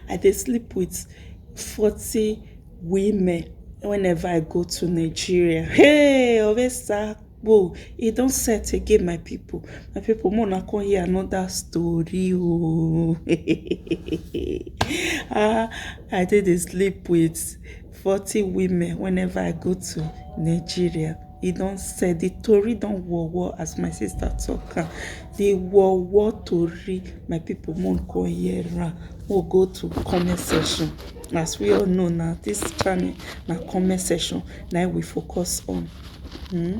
I dey sleep with forty women whenever I go to Nigeria. Hey! Oresakpo! E don set again, my people. My people, more na come hear another story. Oh, ah, I did sleep with forty women whenever I go to Nigeria. e don set the tori don war war as my sister talk am the war war tori my people mo go hear am mo go to comment section as we all know na this channel na comment section na we focus on. Hmm?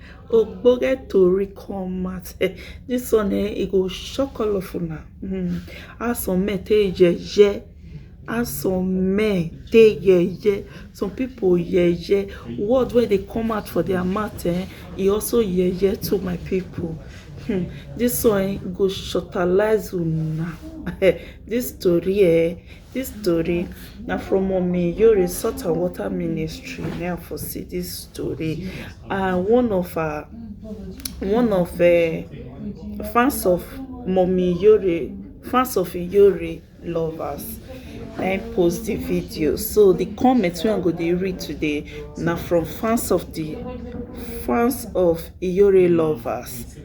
ogbonge tori come out eh, this one eh, e go shock all of una mm. how some men take yeye how some men take yeye some people yeye word wey dey come out for their mouth eh, e also yeye to my people hmm. this one eh, go shortalize una this story eh, Dis tori na from mummy Yori salt and water ministry na I for see dis tori and one of her one of um fans of mummy Yori fans of Yori lovers na im post di video so di comment wey I go dey read today na from fans of di fans of Yori lovers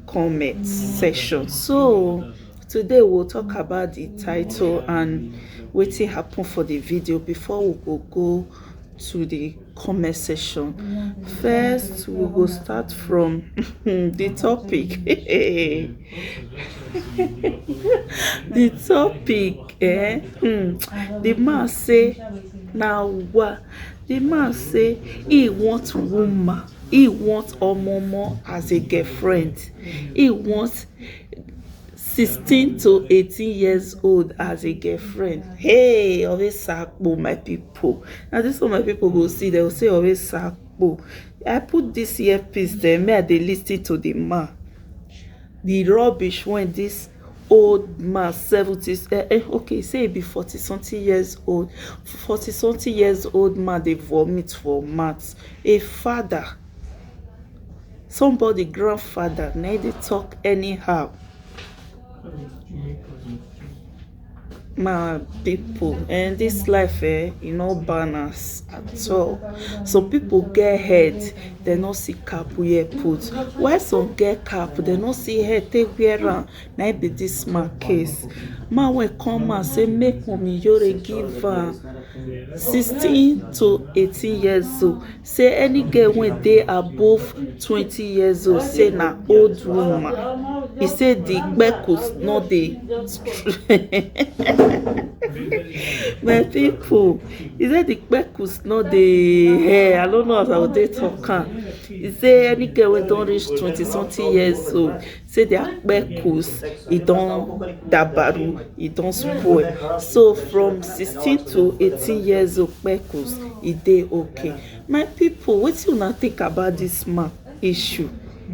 comment section so Today we will talk about the title and wetin happen for the video before we go go to the comment section. First, we go start from the topic. the topic, eh? Hmm. The man say, now what? The man say he wants woman. He wants Omomo as a girlfriend. He wants 16 to 18 years old as a girlfriend. Hey, always sakpo, my people. Now this one, my people will see. They will say always sakpo. I put this earpiece there. May I they listen to the man. The rubbish when this old man 70s eh, eh, okay say e be 40 something years old 40 something years old man dey vomit for mat a father Somebody grandfather na him dey talk anyhow. My people um this life um e no balance at all. Some people get head dem no see cap wear put while some get cap dem no see head take wear am na him be this man case. Man wey come out say make Wunmi give am sixteen to eighteen years old say any girl wey dey above twenty years old say na old woman e say di kpekus no dey my pipo e say di kpekus no dey ehh i no know as i go take talk am e say any girl wey don reach twenty something years old say their kpekus e don dabaru e don spoil so from sixteen to eighteen years old kpekus e dey okay my people wetin una think about this man issue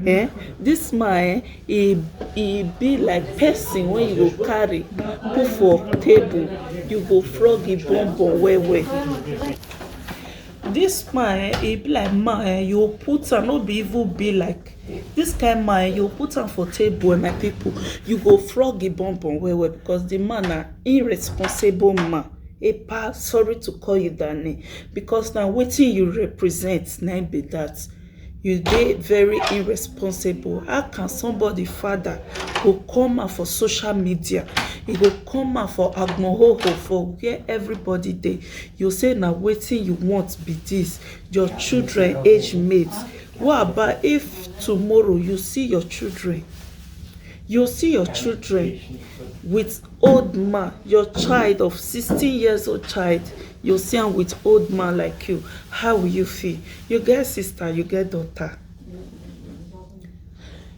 eh this man eh e e be like person wey you go carry put for table you go flog e bum bum well well this man eh e be like man eh you go put am no be even be like This kind man um you go put am for table um my people you go flog the bon bon well well because the man na irresponsible man epa sorry to call you that name because na wetin you represent na be that you dey very irresponsible how can somebody father go come out for social media you go come out for agbohoho for where everybody dey you say na wetin you want be this your children age mate What about if tomorrow you see your children, you see your children with old man, your child of 16 years old child, you see am with old man like you, how will you feel? You get sister, you get daughter,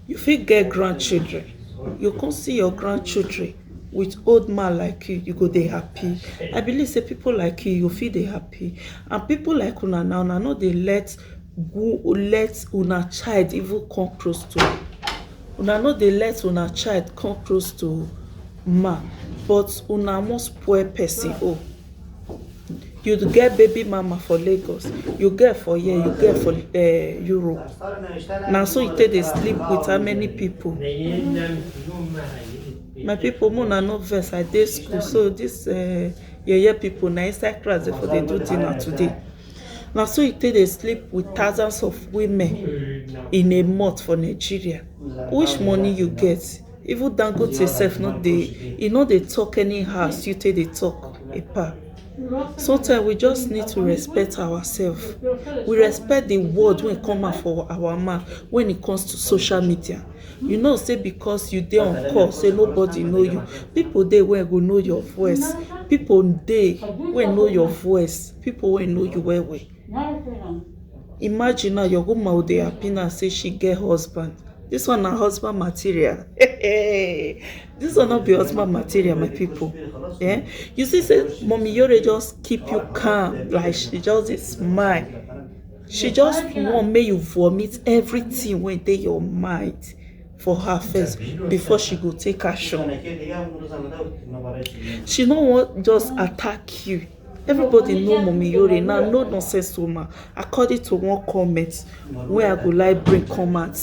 you fit get grandchildren, you come see your grandchildren with old man like you, you go dey happy. I believe say people like you, you fit dey happy. And people like una now, una no dey let go let una child even come close to am una no dey let una child come close to man but una wan spoil person own you get baby mama for Lagos you get for here you get for Europe na so you take dey sleep with how many people my people make una no vex I dey school so this yeye people na inside class dem for dey do dinner today Na so e take dey sleep with thousands of women in a month for Nigeria. Which money you get? Even Dangote sef no dey e no dey talk anyhow as you take dey talk Epa. Sometimes we just need to respect ourselves. We respect the word wey come out from our mouth when it comes to social media. You know sey because you dey on call sey nobody know you, pipu dey wey go know your voice. Pipu dey wey know your voice. people wey know you well well imagine now your woman go dey happy now say she get husband this one na husband material this one no be husband material my people eh you see say mommy yore just keep you calm like she just dey smile she just want make you vomit everything wey dey your mind for her first before she go take action she no wan just attack you everybody know mummy yore now no nonsense o ma according to one comment wey i go like bring come out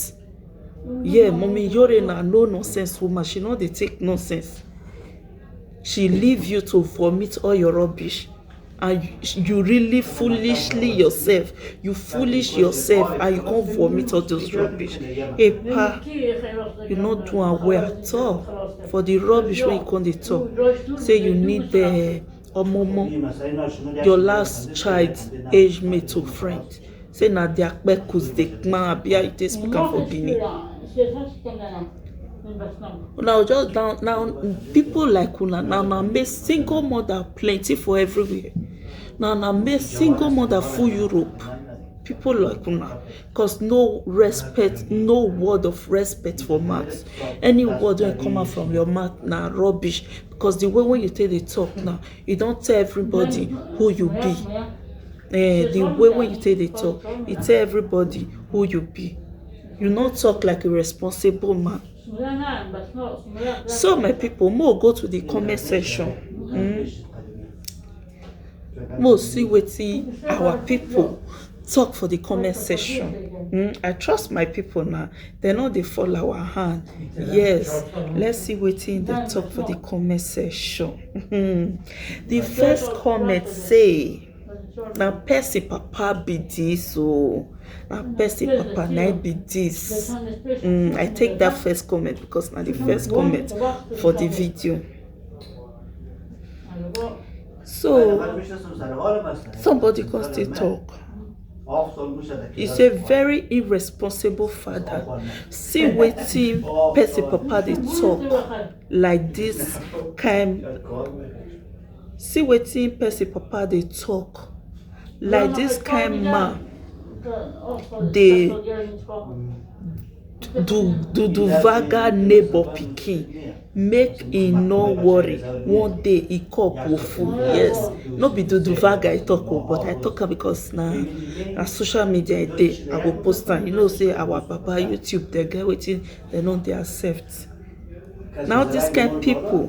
yeah mummy yore na no nonsense woman she no dey take nonsense she leave you to vomit all your rubbish and you really foolishly yourself you foolish yourself and you come vomit all those rubbish epa you no do am well at all for the rubbish wey you come dey talk say you need uh, Omomo, your last child age mate or friend say na their kpekus dey knack abi how you take speak am for Benin. Una go just down na people like una na una make single mother plenty for everywhere na una make single mother full Europe people like una cause no respect no word of respect for mouth any word wey come out from your mouth na rubbish Because the way wey you take dey talk now, you don tell everybody who you be. Eh, the way wey you take dey talk, you tell everybody who you be. You no talk like a responsible man. So my people, make we go to the comment section. Mm. Mo see wetin our pipu talk for the comment section hmm I trust my pipu na dem no dey fall our hand yes let's see wetin dem talk for the comment section hmm the first comment say na person papa be this oo na person papa na him be this hmm I take that first comment because na the first comment for the video. So, somebody can still talk. He's a very irresponsible father. See wetin person papa dey talk like this kind. See wetin person papa dey talk like this kind man dey Duduvaga neighbor pikin make e no worry one day e cup go full yes no be duduvaga I talk o but I talk am because na na social media e dey I go post am you know sey our papa YouTube dem get wetin dem no dey accept na all this kind people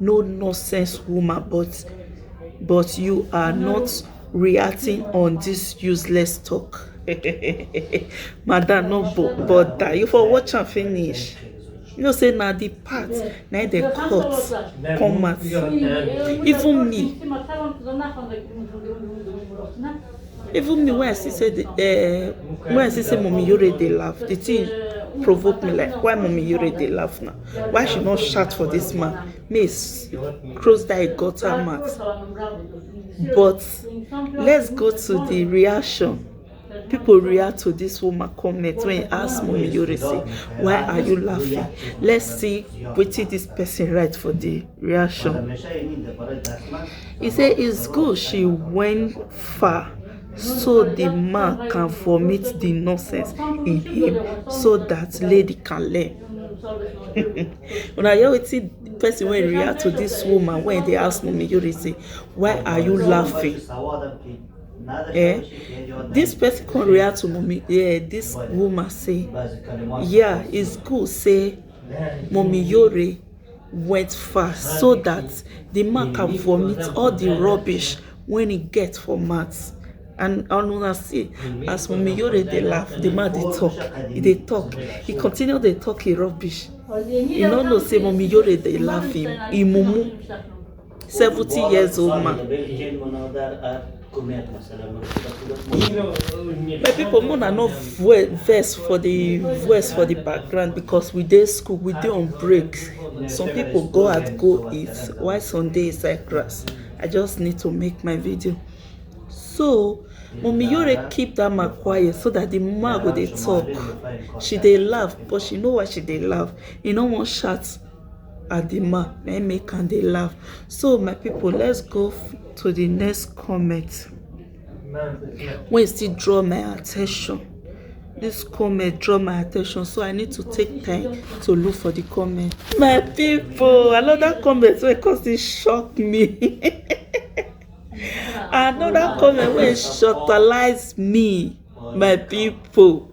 no nonsense woman but but you are not reacting on this useless talk madam no bother you for watch and finish you know say now the part now they cut come out even me even me when i see say the uh, when i see say mommy yore dey laugh the thing provoke me like why mommy yore dey laugh now why she no shout for this man may cross that gutter mat but let's go to the reaction people react to this woman comment when he ask mommy yori say why are you laughing let's see wetin this person write for the reaction he say it's good she went far so di man can vomit di nonsense in him so dat lady can learn um una hear wetin person wey react to dis woman wey dey ask Mummy Yuri say why are you laughing eh dis person come react to Mummy um dis woman say yeah is good say Mummy Yuri wet fast so dat di man can vomit all di rubbish wey he get for mat and una see as mummy you dey laugh di man dey talk he dey talk he continue dey talk him rubbish he no know say mummy yore dey laugh him mumu 70 years old man my people more than no verse for the verse for the background because we dey school we dey on break some people go out go eat while some dey inside class i just need to make my video so Mummy Yore keep that man quiet so that the man go dey talk. She dey laugh, but she know why she dey laugh. You know one shot. Adima na im make am dey laugh. So my people let's go to the next comment wey still draw my attention. This comment draw my attention so I need to take time to look for the comment. My people another comment wey come still shock me. another comment wey shortalize me my people.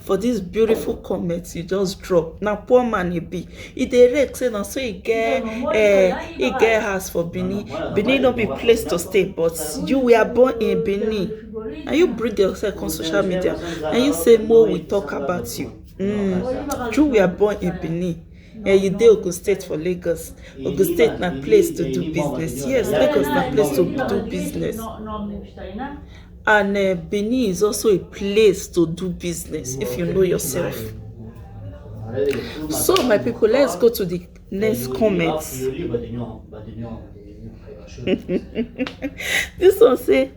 for this beautiful comment you just drop na poor man e be e dey rake say na so e get eh, e get house for benin benin no be place to stay but you were born in benin and you bring yourself come social media and you say more we talk about you mm. you were born in benin Here you dey Ogun State for Lagos. Ogun State na place to do business. Yes, Lagos na place to do business. And uh, Benin is also a place to do business if you know yourself. So, my people, let's go to the next comments. this one say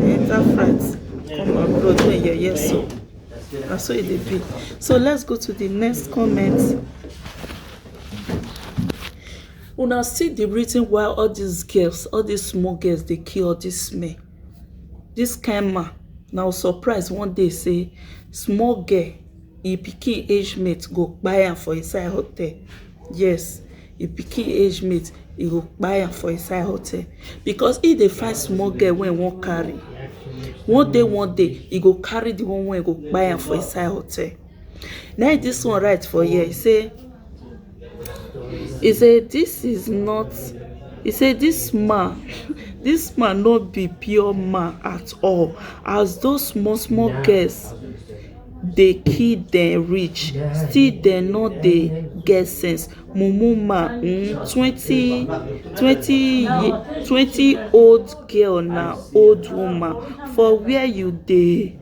enter france come abroad do yeye so na so e dey be so let's go to the next comment una see the reason why all these girls all these small girls dey kill all these men this kind man na o surprise one day say small girl im pikin age mate go kpai am for inside hotel yes e pikin age mate e go kpai am for inside hotel because e dey find small girl wey e wan carry one day one day e go carry the one wey go kpai am for inside hotel na im this one write for here e say e say this is not e say this man this man no be pure man at all as those small small girls dey kill dem reach still dem no dey get sense. mumu man um twenty twenty twenty old girl na old woman for wia you dey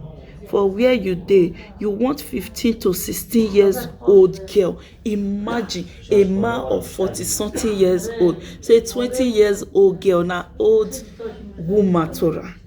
for wia you dey you want fifteen to sixteen years old girl imagine a man of forty something years old say twenty years old girl na old woman to am.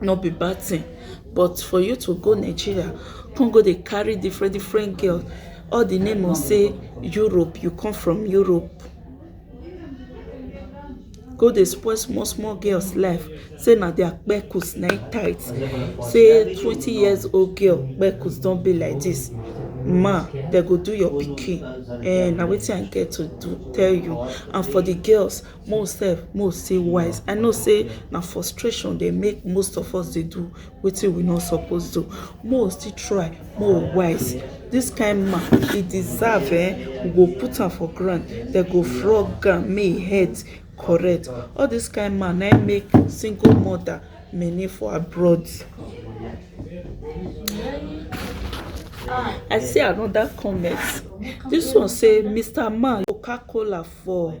no be bad thing but for you to go Nigeria come go dey carry different different girl all the name of say Europe you come from Europe go dey spoil small small girls life say na their kpekus na im tight say twenty years old girl kpekus don be like this ma dem go do your pikin eh na wetin I get to do tell you and for the girls mo sef mo say wise i know say na frustration dey make most of us dey do wetin we no suppose do mo still try mo wise this kind man he deserve eh we go put am for ground dem go frog am may him head correct all this kind man na make single mother many for abroad. I see another comment. This one say Mr. Man Coca-Cola for.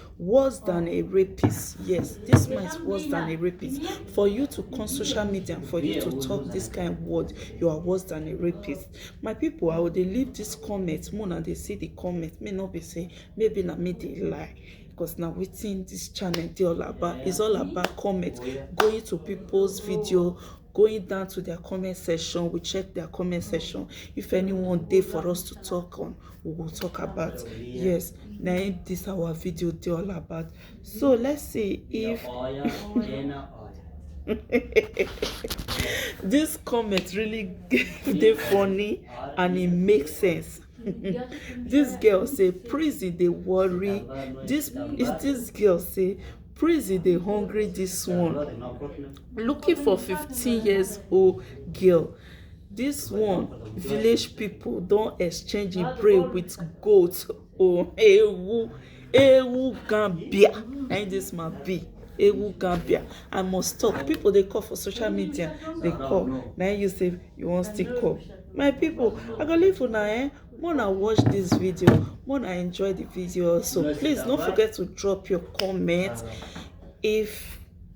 worse than a rapist yes this man is worse than a rapist for you to come social media for you to talk this kind word you are worse than a rapist my people i will dey leave this comment more than they see the comment may not be say maybe na me dey lie because now within this channel they all about is all about comment going to people's video going down to their comment section we check their comment section if anyone there for us to talk on we will talk about yes na im this our video dey all about so let's see if this comment really dey funny and e make sense this girl say prison dey worry this this girl say prison dey hungry this one looking for fifteen years old girl This one, village people don exchange a prey with goat. Oh, ewu, ewu gambia. And this man be ewu gambia. I must talk. People they call for social media. They call. Now you say you want still call. My people, I go leave for now. Eh? Mona watch this video. Mona enjoy the video. So please don't forget to drop your comment. If